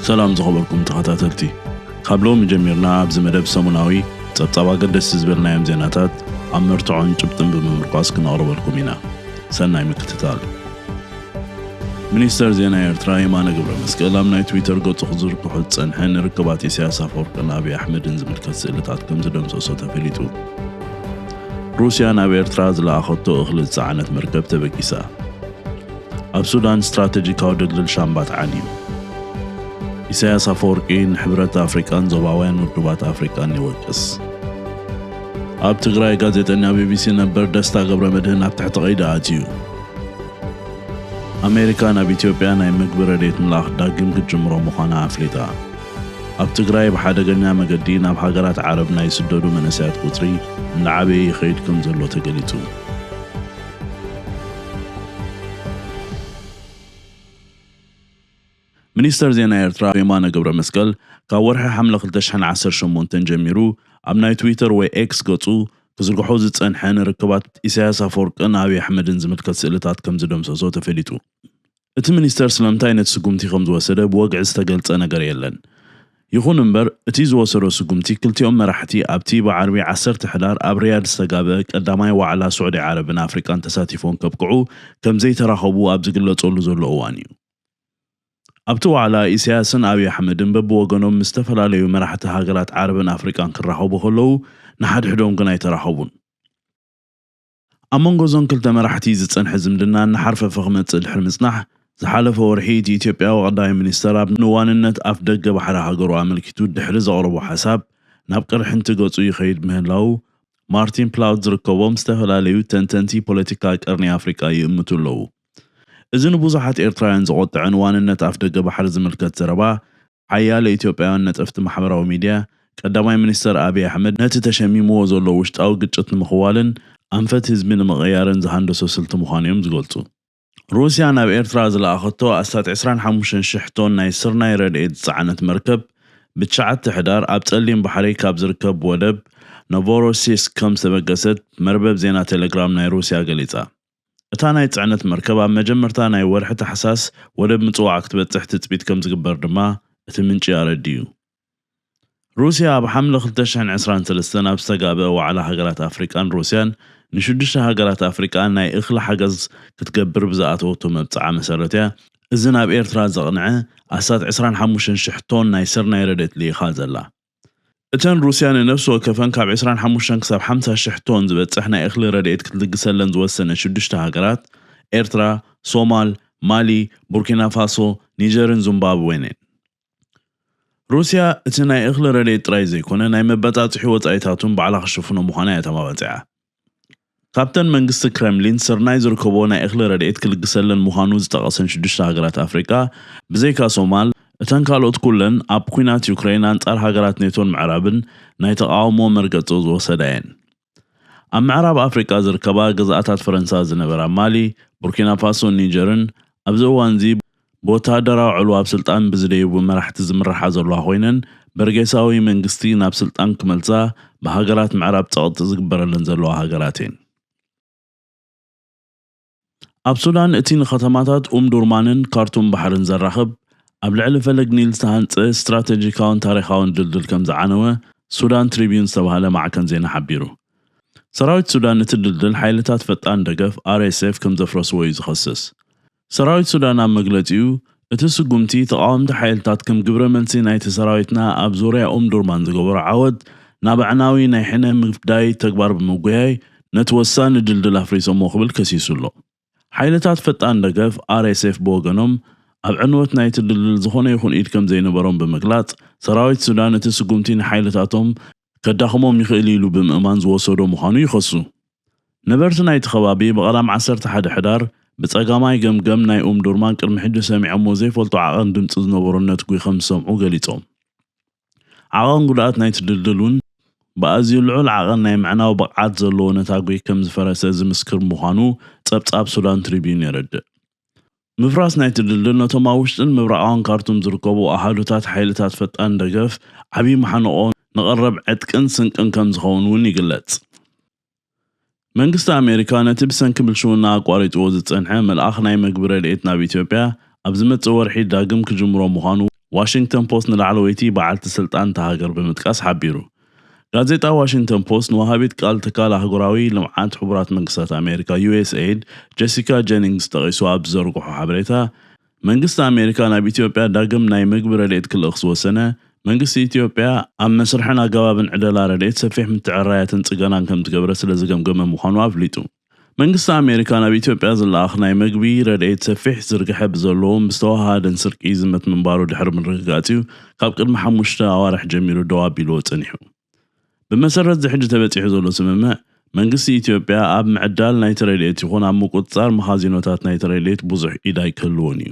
ሰላም ዝኸበርኩም ተኸታተልቲ ካብ ሎሚ ጀሚርና ኣብዚ መደብ ሰሙናዊ ጸብጻብ ኣገደስቲ ዝበልናዮም ዜናታት ኣብ መርትዖን ጭብጥን ብምምርኳስ ክነቕርበልኩም ኢና ሰናይ ምክትታል ሚኒስተር ዜና ኤርትራ የማነ ገብረመስቀል ኣብ ናይ ትዊተር ገጹ ክዝርግሖ ዝጸንሐ ንርክባት ኢሳያስ ኣፈወርቅን ኣብይ ኣሕመድን ዝምልከት ስእልታት ከምዝደምሰሶ ተፈሊጡ። ሩስያ ናብ ኤርትራ ዝለኣኸቶ እኽሊ ዝጸዓነት መርከብ ተበጊሳ። ኣብ ሱዳን ስትራተጂካዊ ድልድል ሻምባት ዓንዩ። ኢሳያስ ኣፈወርቂ ንሕብረት ኣፍሪቃን ዞባውያን ውድባት ኣፍሪቃን ይወቅስ። ኣብ ትግራይ ጋዜጠኛ ቢቢሲ ነበር ደስታ ገብረመድህን ኣብ ትሕቲ ቀይዲ ኣትዩ። ኣሜሪካ ናብ ኢትዮጵያ ናይ ምግቢ ረድኤት ምልኣኽ ዳግም ክትጅምሮ ምዃና ኣፍሊጣ። ኣብ ትግራይ ብሓደገኛ መገዲ ናብ ሃገራት ዓረብ ናይ ዝስደዱ መንእሰያት ቁጽሪ እናዓበየ ይኸይድ ከምዘሎ ተገሊጹ። ሚኒስተር ዜና ኤርትራ የማነ ገብረመስቀል ካብ ወርሒ ሓምለ ክልተ ሽሕን ዓሰርተ ሸሞንተን ጀሚሩ ኣብ ናይ ትዊተር ወይ ኤክስ ገጹ ክዝርግሖ ዝጸንሐ ንርክባት ኢሳይያስ ኣፈወርቅን ኣብይ ኣሕመድን ዝምልከት ስእልታት ከም ዝደምሰሶ ተፈሊጡ። እቲ ሚኒስተር ስለምንታይ ነቲ ስጉምቲ ከም ዝወሰደ ብወግዒ ዝተገልጸ ነገር የለን። ይኹን እምበር እቲ ዝወሰዶ ስጉምቲ ክልቲኦም መራሕቲ ኣብቲ ብዓርቢ ዓሰርተ ሕዳር ኣብ ሪያድ ዝተጋብእ ቀዳማይ ዋዕላ ሱዕዲ ዓረብን ኣፍሪቃን ተሳቲፎም ከብቅዑ ከም ዘይተራኸቡ ኣብ ዝግለጸሉ ዘሎ እዋን'ዩ። ኣብቲ ዋዕላ፣ ኢሳያስን ኣብይ ኣሕመድን በብወገኖም ምስ ዝተፈላለዩ መራሕቲ ሃገራት ዓረብን ኣፍሪቃን ክራኸቡ ከለዉ፣ ንሓድሕዶም ግን ኣይተራኸቡን። ኣብ መንጎ እዞን ክልተ መራሕቲ ዝጸንሐ ዝምድና እናሓርፈፈ ክመጽእ ድሕሪ ምጽናሕ፣ ዝሓለፈ ወርሒ እቲ ኢትዮጵያዊ ቀዳማይ ሚኒስተር ኣብ ንዋንነት ኣፍደገ ባሕሪ ሃገሩ ኣመልኪቱ ድሕሪ ዘቕረቦ ሓሳብ ናብ ቅርሕንቲ ገጹ ይኸይድ ምህላዉ ማርቲን ፕላውት ዝርከቦም ዝተፈላለዩ ተንተንቲ ፖለቲካ ቀርኒ ኣፍሪቃ ይእምቱ ኣለዉ። እዚ ንብዙሓት ኤርትራውያን ዘቖጠዐን ዋንነት ኣፍደገ ባሕሪ ዝምልከት ዘረባ ሓያለ ኢትዮጵያውያን ነጠፍቲ ማሕበራዊ ሚድያ፣ ቀዳማይ ሚኒስተር ኣቢይ ኣሕመድ ነቲ ተሸሚምዎ ዘሎ ውሽጣዊ ግጭት ንምኽዋልን ኣንፈት ህዝቢ ንምቕያርን ዝሃንደሶ ስልቲ ምዃኑ'ዮም ዝገልጹ። ሩስያ ናብ ኤርትራ ዝለኣኸቶ ኣስታት ዕስራን ሓሙሽተን ሽሕ ቶን ናይ ስርናይ ረድኤት ዝጸዓነት መርከብ ብትሽዓተ ሕዳር ኣብ ጸሊም ባሕሪ ካብ ዝርከብ ወደብ ኖቮሮሲስክ ከም ዝተበገሰት መርበብ ዜና ቴለግራም ናይ ሩስያ ገሊጻ። እታ ናይ ጽዕነት መርከብ ኣብ መጀመርታ ናይ ወርሒ ታሕሳስ ወደብ ምጽዋዕ ክትበጽሕ ትጽቢት ከምዝግበር ድማ እቲ ምንጪ ኣረዲኡ። ሩስያ ኣብ ሓምለ ክልተ ሽሕን ዕስራን ሰለስተን ኣብ ዝተጋብኣ ዋዕላ ሃገራት ኣፍሪቃን ሩስያን ንሽዱሽተ ሃገራት ኣፍሪቃ ናይ እኽሊ ሓገዝ ክትገብር ብዝኣተወቶ መብጽዓ መሰረት'ያ እዚ ናብ ኤርትራ ዘቕንዐ ኣስታት ዕስራን ሓሙሽተን ሽሕ ቶን ናይ ስርናይ ረድኤት ልኢኻ ዘላ። እተን ሩስያ ንነፍሲ ወከፈን ካብ ዕስራን ሓሙሽተን ክሳብ ሓምሳ ሽሕ ቶን ዝበጽሕ ናይ እኽሊ ረድኤት ክትልግሰለን ዝወሰነት ሽዱሽተ ሃገራት፣ ኤርትራ፣ ሶማል፣ ማሊ፣ ቡርኪናፋሶ፣ ኒጀርን ዙምባብዌን'የን። ሩስያ እቲ ናይ እኽሊ ረድኤት ጥራይ ዘይኮነ ናይ መበጻጽሒ ወጻኢታት'ውን ባዕላ ክትሽፍኖ ምዃና'ያ ተማባጺዓ። ካብተን መንግስቲ ክረምሊን ስርናይ ዝርከቦ ናይ እኽሊ ረድኤት ክልግሰለን ምዃኑ ዝጠቐሰን ሽዱሽተ ሃገራት ኣፍሪቃ፣ ብዘይካ ሶማል፣ እተን ካልኦት ኩለን ኣብ ኲናት ዩክረይን ኣንጻር ሃገራት ኔቶን ምዕራብን ናይ ተቓውሞ መርገጺ ዝወሰዳ እየን። ኣብ ምዕራብ ኣፍሪቃ ዝርከባ ግዝኣታት ፈረንሳ ዝነበራ ማሊ፣ ቡርኪናፋሶን ኒጀርን ኣብዚ እዋንዚ ብወተሃደራዊ ዕልዋ ኣብ ስልጣን ብዝደዩቡ መራሕቲ ዝምርሓ ዘለዋ ኮይነን በርጌሳዊ መንግስቲ ናብ ስልጣን ክመልሳ ብሃገራት ምዕራብ ጸቕጢ ዝግበረለን ዘለዋ ሃገራት እየን። ኣብ ሱዳን እቲ ንከተማታት ኡምዱርማንን ካርቱም ባሕርን ዘራኽብ ኣብ ልዕሊ ፈለግ ኒል ዝተሃንጸ ስትራተጂካውን ታሪኻውን ድልድል ከም ዝዓነወ ሱዳን ትሪብዩን ዝተባህለ ማዕከን ዜና ሓቢሩ። ሰራዊት ሱዳን እቲ ድልድል ሓይልታት ፈጣን ደገፍ፣ RSF፣ ከም ዘፍረስዎ እዩ ዝኸስስ። ሰራዊት ሱዳን ኣብ መግለጺኡ፣ እቲ ስጉምቲ ተቓወምቲ ሓይልታት ከም ግብረ መልሲ ናይቲ ሰራዊትና ኣብ ዙርያ ኡምዱርማን ዝገበሮ ዓወት ናብ ኣዕናዊ ናይ ሕነ ምፍዳይ ተግባር ብምጉያይ ነቲ ወሳኒ ድልድል ኣፍሪሶሞ ክብል ከሲሱ ኣሎ። ሓይልታት ፈጣን ደገፍ፣ RSF፣ ብወገኖም ኣብ ዕንወት ናይቲ ድልድል ዝኾነ ይኹን ኢድ ከምዘይነበሮም ብምግላጽ፣ ሰራዊት ሱዳን እቲ ስጉምቲ ንሓይልታቶም ከዳኽሞም ይኽእል ኢሉ ብምእማን ዝወሰዶ ምዃኑ ይኸሱ። ነበርቲ ናይቲ ከባቢ ብቐዳም ዓሰርተ ሓደ ሕዳር ብጸጋማይ ገምገም ናይ ኡምዱርማን ቅድሚ ሕጂ ሰሚዖሞ ዘይፈልጡ ዓቐን ድምጺ ዝነበሮ ነትጒ ከም ዝሰምዑ ገሊጾም። ዓቐን ጉድኣት ናይቲ ድልድል እውን ብኣዝዩ ልዑል ዓቐን ናይ ምዕናው ብቕዓት ዘለዎ ነታጒ ከም ዝፈረሰ ዝምስክር ምዃኑ ጸብጻብ ሱዳን ትሪብዩን የረድእ። ምፍራስ ናይቲ ድልድል ነቶም ኣብ ውሽጥን ምብራቓውን ካርቱም ዝርከቡ ኣሃዱታት ሓይልታት ፈጣን ደገፍ ዓብዪ መሓንቖ ንቐረብ ዕጥቅን ስንቅን ከምዝኸውን እውን ይግለጽ። መንግስቲ ኣሜሪካ ነቲ ብሰንኪ ብልሽውና ኣቋሪጽዎ ዝጸንሐ ምልኣኽ ናይ መግቢ ረድኤት ናብ ኢትዮጵያ ኣብ ዝመጽእ ወርሒ ዳግም ክጅምሮ ምዃኑ ዋሽንግተን ፖስት ንላዕለወይቲ በዓልቲ ስልጣን እታ ሃገር ብምጥቃስ ሓቢሩ። ጋዜጣ ዋሽንግተን ፖስት ንወሃቢት ቃል ትካል ኣህጉራዊ ልምዓት ሕቡራት መንግስታት ኣሜሪካ፣ ዩኤስኤይድ፣ ጀሲካ ጀኒንግስ ጠቒሱ ኣብ ዝዘርግሖ ሓበሬታ፣ መንግስቲ ኣሜሪካ ናብ ኢትዮጵያ ዳግም ናይ ምግቢ ረድኤት ክልእኽ ዝወሰነ፣ መንግስቲ ኢትዮጵያ ኣብ መስርሕን ኣገባብን ዕደላ ረድኤት ሰፊሕ ምትዕርራያትን ጽገናን ከምዝገበረ ስለዝገምገመ ምዃኑ ኣፍሊጡ። መንግስቲ ኣሜሪካ ናብ ኢትዮጵያ ዝለኣኽ ናይ መግቢ ረድኤት ሰፊሕ ዝርግሐ ብዘለዎን ብዝተወሃሃደን ስርቂ ይዝመት ምንባሩ ድሕሪ ምርግጋጽ'ዩ ካብ ቅድሚ ሓሙሽተ ኣዋርሕ ጀሚሩ ደው ኣቢልዎ ጸኒሑ። ብመሰረት'ዚ ሕጂ ተበጺሑ ዘሎ ስምምዕ፣ መንግስቲ ኢትዮጵያ ኣብ ምዕዳል ናይቲ ረድኤት ይኹን ኣብ ምቁጽጻር መኻዚኖታት ናይቲ ረድኤት ብዙሕ ኢድ ኣይክህልዎን'ዩ።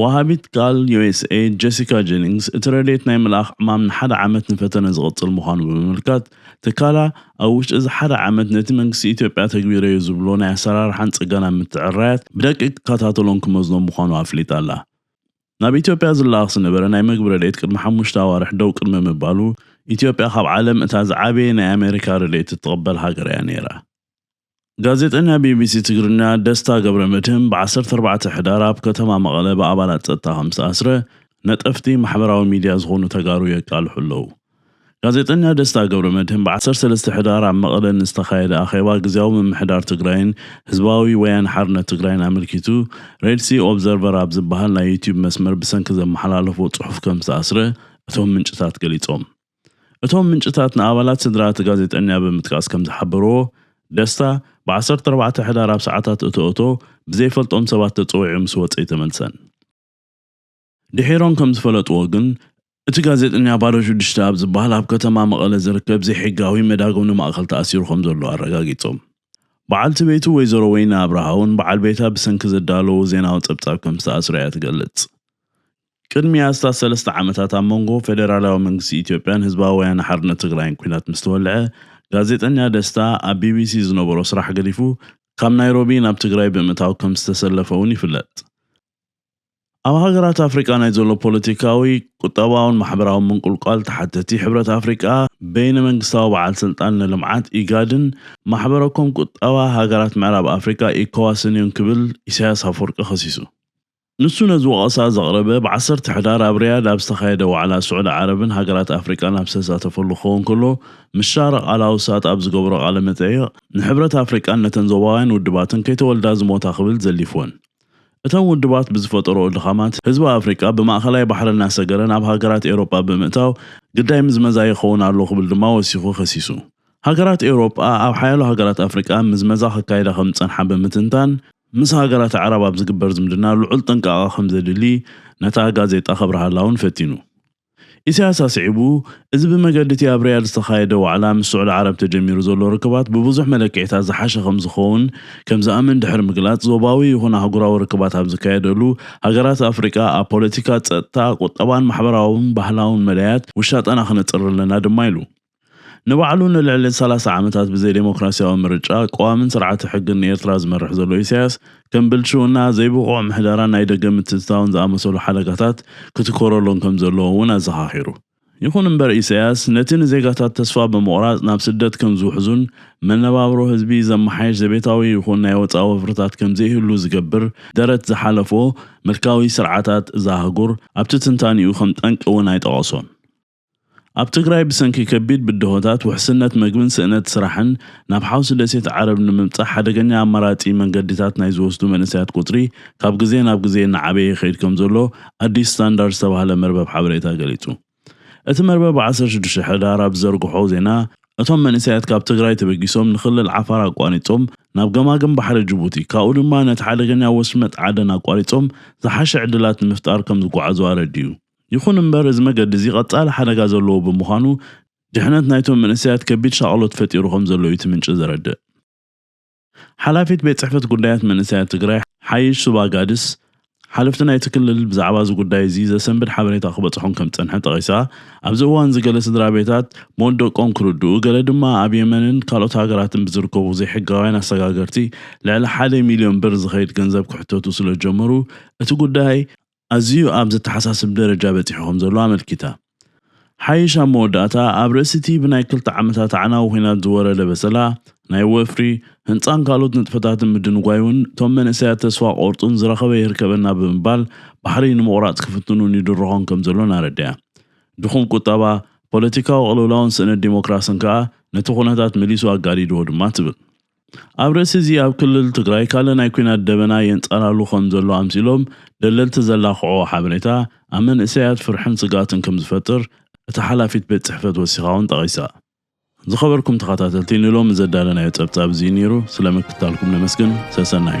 ወሃቢት ቃል ዩኤስኤይድ ጀሲካ ጀኒንግስ፣ እቲ ረድኤት ናይ ምልኣኽ ዕማም ንሓደ ዓመት ንፈተነ ዝቕጽል ምዃኑ ብምምልካት፣ ትካላ ኣብ ውሽጢ እዚ ሓደ ዓመት ነቲ መንግስቲ ኢትዮጵያ ኣተግቢረዮ ዝብሎ ናይ ኣሰራርሓን ጽገናን ምትዕርራያት ብደቂቕ ክከታተሎን ክመዝኖን ምዃኑ ኣፍሊጣ'ላ። ናብ ኢትዮጵያ ዝለኣኽ ዝነበረ ናይ መግቢ ረድኤት ቅድሚ ሓሙሽተ ኣዋርሕ ደው ቅድሚ ምባሉ፣ ኢትዮጵያ ካብ ዓለም እታ ዝዓበየ ናይ ኣሜሪካ ረድኤት እትቕበል ሃገር'ያ ነይራ። ጋዜጠኛ ቢቢሲ ትግርኛ ደስታ ገብረመድህን ብ ዓሰርተ ኣርባዕተ ሕዳር ኣብ ከተማ መቐለ ብኣባላት ፀጥታ ከም ዝተኣስረ ነጠፍቲ ማሕበራዊ ሚድያ ዝኾኑ ተጋሩ የቃልሑ ኣለው። ጋዜጠኛ ደስታ ገብረመድህን ብ ዓሰርተ ሰለስተ ሕዳር ኣብ መቐለ ንዝተኻየደ ኣኼባ ግዝያዊ ምምሕዳር ትግራይን ህዝባዊ ወያነ ሓርነት ትግራይን ኣመልኪቱ ሬድሲ ኦብዘርቨር ኣብ ዝብሃል ናይ ዩትዩብ መስመር ብሰንኪ ዘመሓላለፎ ፅሑፍ ከም ዝተኣስረ እቶም ምንጭታት ገሊፆም። እቶም ምንጭታት ንኣባላት ስድራ እቲ ጋዜጠኛ ብምጥቃስ ከምዝሓበርዎ፣ ደስታ ብ ዓሰርተ ኣርባዕተ ሕዳር ኣብ ሰዓታት እቶእቶ ብዘይፈልጦም ሰባት ተጸዊዑ ምስ ወጸ ኣይተመልሰን። ድሒሮም ከምዝፈለጥዎ ግን፣ እቲ ጋዜጠኛ ባዶ ሽዱሽተ ኣብ ዝበሃል ኣብ ከተማ መቐለ ዝርከብ ዘይሕጋዊ መዳጎኒ ማእከል ተኣሲሩ ከምዘሎ ኣረጋጊጾም። በዓልቲ ቤቱ ወይዘሮ ወይኒ ኣብርሃ'ውን በዓል ቤታ ብሰንኪ ዘዳለዎ ዜናዊ ጸብጻብ ከምዝተኣስረ እያ ትገልጽ። ቅድሚ ኣስታት ሰለስተ ዓመታት ኣብ መንጎ ፌደራላዊ መንግስቲ ኢትዮጵያን ህዝባዊ ወያነ ሓርነት ትግራይን ኲናት ምስ ተወልዐ፣ ጋዜጠኛ ደስታ ኣብ ቢቢሲ ዝነበሮ ስራሕ ገዲፉ ካብ ናይሮቢ ናብ ትግራይ ብምእታው ከም ዝተሰለፈ'ውን ይፍለጥ። ኣብ ሃገራት ኣፍሪቃ ናይ ዘሎ ፖለቲካዊ፣ ቁጠባውን ማሕበራውን ምንቁልቋል ተሓተቲ ሕብረት ኣፍሪቃ፣ በይነ መንግስታዊ በዓል ስልጣን ንልምዓት፣ ኢጋድን፣ ማሕበረ-ኮም ቁጠባ ሃገራት ምዕራብ ኣፍሪቃ፣ ኢኮዋስን'ዮም ክብል ኢሳይያስ ኣፍወርቂ ከሲሱ። ንሱ ነዚ ወቐሳ ዘቕረበ፣ ብ ዓሰርተ ሕዳር ኣብ ሪያድ ኣብ ዝተኻየደ ዋዕላ ስዑዲ ዓረብን ሃገራት ኣፍሪቃን ኣብ ዝተሳተፈሉ ክኸውን ከሎ፣ ምስ ሻርቕ ኣል-ኣውሳጥ ኣብ ዝገበሮ ቃለ መጠይቕ፣ ንሕብረት ኣፍሪቃን ነተን ዞባውያን ውድባትን ከይተወልዳ ዝሞታ ክብል ዘሊፍወን። እተን ውድባት ብዝፈጠርኦ ድኻማት፣ ህዝቢ ኣፍሪቃ ብማእከላይ ባሕሪ እናሰገረ ናብ ሃገራት ኤውሮጳ ብምእታው ግዳይ ምዝመዛ ይኸውን ኣሎ ክብል ድማ ወሲኹ ከሲሱ። ሃገራት ኤውሮጳ ኣብ ሓያሎ ሃገራት ኣፍሪቃ ምዝመዛ ከካይዳ ከም ዝጸንሓ ብምትንታን፣ ምስ ሃገራት ኣዕራብ ኣብ ዝግበር ዝምድና ልዑል ጥንቃቐ ከምዘድሊ ነታ ጋዜጣ ከብርሃላ'ውን ፈቲኑ። ኢሳያስ ኣስዒቡ፣ እዚ ብመገዲ'ቲ ኣብ ሪያድ ዝተኻየደ ዋዕላ ምስ ስዑዲ ዓረብ ተጀሚሩ ዘሎ ርክባት ብብዙሕ መለክዒታት ዝሓሸ ከምዝኸውን ከምዝኣምን ድሕሪ ምግላጽ፣ ዞባዊ ይኹን ኣህጉራዊ ርክባት ኣብ ዝካየደሉ፣ ሃገራት ኣፍሪቃ ኣብ ፖለቲካ፣ ጸጥታ፣ ቁጠባን ማሕበራውን ባህላውን መዳያት ውሻጠና ክነጽሪ ኣለና ድማ ኢሉ። ንባዕሉ ንልዕሊ ሰላሳ ዓመታት ብዘይደሞክራሲያዊ ምርጫ፣ ቀዋምን ስርዓተ ሕግን ንኤርትራ ዝመርሕ ዘሎ ኢሳያስ፣ ከም ብልሽውና፣ ዘይብቑዕ ምሕደራን ናይ ደገ ምትእትታውን ዝኣመሰሉ ሓደጋታት ክትኰረሎም ከም ዘለዎ እውን ኣዘኻኺሩ። ይኹን እምበር ኢሳያስ፣ ነቲ ንዜጋታት ተስፋ ብምቝራጽ ናብ ስደት ከም ዝውሕዙን መነባብሮ ህዝቢ ዘመሓይሽ ዘቤታዊ ይኹን ናይ ወጻኢ ወፍርታት ከም ዘይህሉ ዝገብር ደረት ዝሓለፎ ምልካዊ ስርዓታት እዛ ኣህጉር ኣብቲ ትንታኔኡ ከም ጠንቂ እውን ኣይጠቐሶን። ኣብ ትግራይ ብሰንኪ ከቢድ ብድሆታት ውሕስነት መግብን ስእነት ስራሕን ናብ ሓውሲ ደሴት ዓረብ ንምብፃሕ ሓደገኛ ኣማራፂ መንገዲታት ናይ ዝወስዱ መንእሰያት ቁፅሪ ካብ ግዜ ናብ ግዜ እናዓበየ ይኸይድ ከምዘሎ ኣዲስ ስታንዳርድ ዝተባህለ መርበብ ሓበሬታ ገሊፁ። እቲ መርበብ ብ ዓሰርተ ሽዱሽተ ሕዳር ኣብ ዝዘርግሖ ዜና እቶም መንእሰያት ካብ ትግራይ ተበጊሶም ንክልል ዓፋር ኣቋሪፆም ናብ ገማግም ባሕሪ ጅቡቲ ካብኡ ድማ ነቲ ሓደገኛ ወሽመጥ ዓደን ኣቋሪፆም ዝሓሸ ዕድላት ንምፍጣር ከምዝጓዓዙ ኣረዲኡ። ይኹን እምበር እዚ መገዲ እዚ ቀጻሊ ሓደጋ ዘለዎ ብምዃኑ ድሕነት ናይቶም መንእሰያት ከቢድ ሻቕሎት ፈጢሩ ከምዘሎ እዩ እቲ ምንጪ ዘረድእ። ሓላፊት ቤት ጽሕፈት ጉዳያት መንእሰያት ትግራይ ሓይሽ ሱባ ጋድስ፣ ሓለፍቲ ናይቲ ክልል ብዛዕባ እዚ ጉዳይ እዚ ዘሰንብድ ሓበሬታ ክበጽሖም ከምዝጸንሐ ጠቒሳ፣ ኣብዚ እዋንዚ ገለ ስድራቤታት ሞት ደቆም ክርድኡ ገለ ድማ ኣብ የመንን ካልኦት ሃገራትን ብዝርከቡ ዘይሕጋውያን ኣሰጋገርቲ ልዕሊ ሓደ ሚልዮን ብር ዝኸይድ ገንዘብ ክሕተቱ ስለዝጀመሩ እቲ ጉዳይ ኣዝዩ ኣብ ዘተሓሳስብ ደረጃ በጺሑ ከምዘሎ ኣመልኪታ። ሓይሽ ኣብ መወዳእታ፣ ኣብ ርእሲ'ቲ ብናይ ክልተ ዓመታት ኣዕናዊ ኲናት ዝወረደ በሰላ፣ ናይ ወፍሪ፣ ህንጻን ካልኦት ንጥፈታትን ምድንጓዩን እቶም መንእሰያት ተስፋ ክቖርጹን ዝረኸበ ይህርከበና ብምባል ባሕሪ ንምቑራጽ ክፍትኑን ይድርኾን ከምዘሎን ኣረዲኣ። ድኹም ቁጠባ፣ ፖለቲካዊ ቅልውላውን ስእነት ዲሞክራስን ከኣ ነቲ ኩነታት መሊሱ ኣጋዲድዎ ድማ ትብል። ኣብ ርእሲ እዚ ኣብ ክልል ትግራይ ካልእ ናይ ኲናት ደበና የንጸላሉ ከም ዘሎ ኣምሲሎም ደለልቲ ዘላኽዕዎ ሓበሬታ ኣብ መንእሰያት ፍርሕን ስግኣትን ከም ዝፈጥር እታ ሓላፊት ቤት ጽሕፈት ወሲኻ ውን ጠቒሳ። ዝኸበርኩም ተኸታተልቲ ንሎሚ ዘዳለናዮ ጸብጻብ እዚ እዩ ነይሩ። ስለ ምክትታልኩም ነመስግን። ሰሰናዩ።